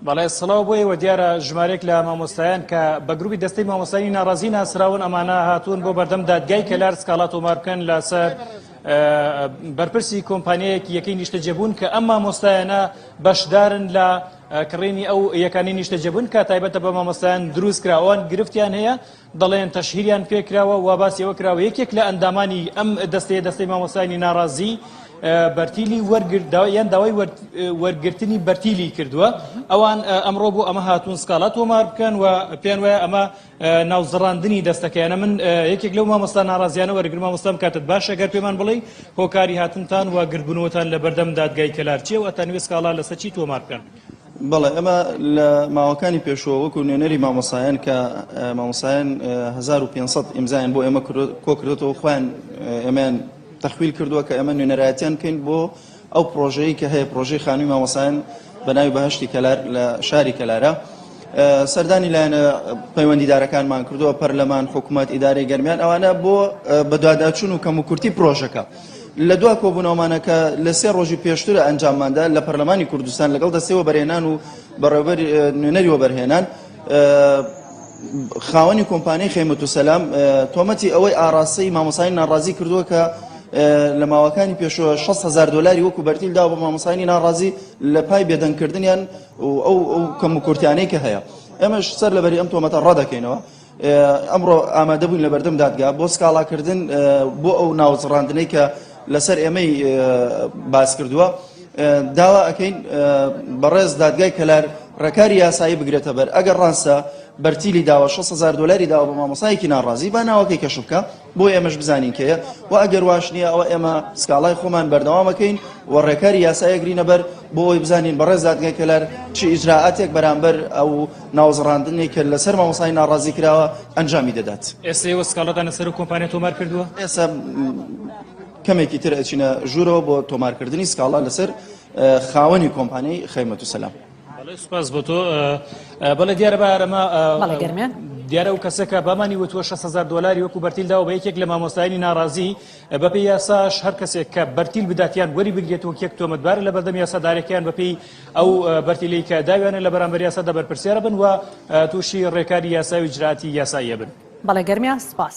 بەڵێ سڵاو بۆ ئێوە دیارە ژمارێک لە مامۆستایان کە بە گروپی دەستەی مامۆستانی ناڕازی ناسراون ئەمانە هاتوون بۆ بەردەم دادگای کەلار سکاڵا تۆمار بکەن لەسەر بەرپرسی کۆمپانیایەکی یەکەی نیشتەجێبوون کە ئەم مامۆستایانە بەشدارن لە کڕینی ئەو یەکانی نیشتەجێبوون کە تایبەتە بە مامۆستایان دروستکراوان گرفتیان هەیە دەڵێن تەشهیریان پێکراوە و باسی ئەوە کراوە یەکێک لە ئەندامانی ئەم دەستەیە دەستەی مامۆستایانی ناڕازی بەرتیلی وەرگردەوە یان داوای وەرگرتنی بەرتیلی کردووە ئەوان ئەمڕۆ بۆ ئەمە هاتوون سکاڵا تۆمار بکەن و پێیان وایە ئەمە ناوزڕاندنی دەستەکەیانە من یەکێک لەو مامۆستا ناڕازیانە وەرگر مامۆستام کاتت باشە گەر پێمان بڵێ هۆکاری هاتنتان و گردبوونەوەتان لە بەردەم دادگای کەلارچیە و ئەتانوێ سکاڵا لەسەر چی تۆمار بکەن بەڵێ ئەمە لە ماوەکانی پێشوە وەکو نوێنەری مامۆسایەن کە مامۆسایەن 1500 ئیمزایان بۆ ئێمە کۆکردێتەوە خۆیان ئێمەیان تەخویل کردووە کە ئەمە نوێنەرایەتیان بکەین بۆ ئەو پرۆژەیە کە هەیە پرۆژەی خانووی مامۆسایەن بە ناوی بەهشتی کەلار لە شاری کەلارە. سەردانی لایەنە پەیوەندیدارەکانمان کردووە پەرلەمان حکوومەت ئیدارەی گەرمیان ئەوانە بۆ بەدواداچون و کەم و کورتی پرۆژەکە. لە دوا کۆبوونەوەمانە کە لە سێ ڕۆژی پێشتر ئەنجامماندا لە پەرلەمانی کوردستان لەگەڵ دەستەوە بەرێنان و بەڕێوبەر نوێنەری وەبەرهێنان خاوەنی کۆمپانیای خێمەت و سەلام تۆمەتی ئەوەی ئاراستەی مامۆسای ناڕازی کردووە کە لە ماوەکانی پێشوە 6هزار دلاری وەکو بەرتیل دا بە مامۆسانی ناڕازی لە پای بێدەنگکردنیان ئەو کەم و کورتیانەی کە هەیە ئەمەش سەر لەبەری ئەم تۆمەتە ڕدەکەینەوە ئەمڕۆ ئامادە بووین لەبەردەم دادگا بۆ سکاڵاکردن بۆ ئەو ناوزڕاندنەی کە لەسەر ئێمەی باس کردووە داوا ئەەکەین بەڕێز دادگای کەلار ڕێکاری یاسایی بگرێتە بەر ئەگەر ڕاستە بەرتیلی داوە 600 دلاری داوە بە مامۆسایەکی ناڕازی با ناوەکەی کەش بکە بۆ ئێمەش بزانین کێیە و ئەگەر واش نییە ئەوە ئێمە سکاڵای خۆمان بەردەوامەکەین و ڕێکاری یاسایەگرینە بەر بۆ ئەوی بزانین بەڕێز دادگای کەلار چ ئیجرراعاتێک بەرامبەر ئەو ناوزڕاندنێک کە لەسەر مامۆسای ناڕازی کراوە ئەنجامی دەدات ئێستا وە سکاڵەدانە سەر کۆمپانیا تۆمار کردووە ئێستا کەمێکی تر ئەچینە ژوورەوە بۆ تۆمارکردنی سکاڵا لەسەر خاوەنی کۆمپانیای خەیمەت و سەلام. بەڵێ سوپاس بۆ تۆ بەڵێ دیارە بە ئارەما بەڵێ گەرمیان دیارە و کەسەکە بامانی وتوە 600 دلاری وەکو بەرتیل داوە بە یەکێک لە مامۆستایانی ناڕازی بەپی یاساش هەر کەسێک کە بەرتیل بداتیان وەری بگرێت و یەک تۆمەتبار لە بەردەم یاسادارەکەیان بەپی ئەو بەرتیلی کە داویانە لە بەرامبەر یاسادا بەرپرسیارە بن و تووشی ڕێکاری یاساوی جراتی یاساییە بن بەڵێ گەرمیان سپاس.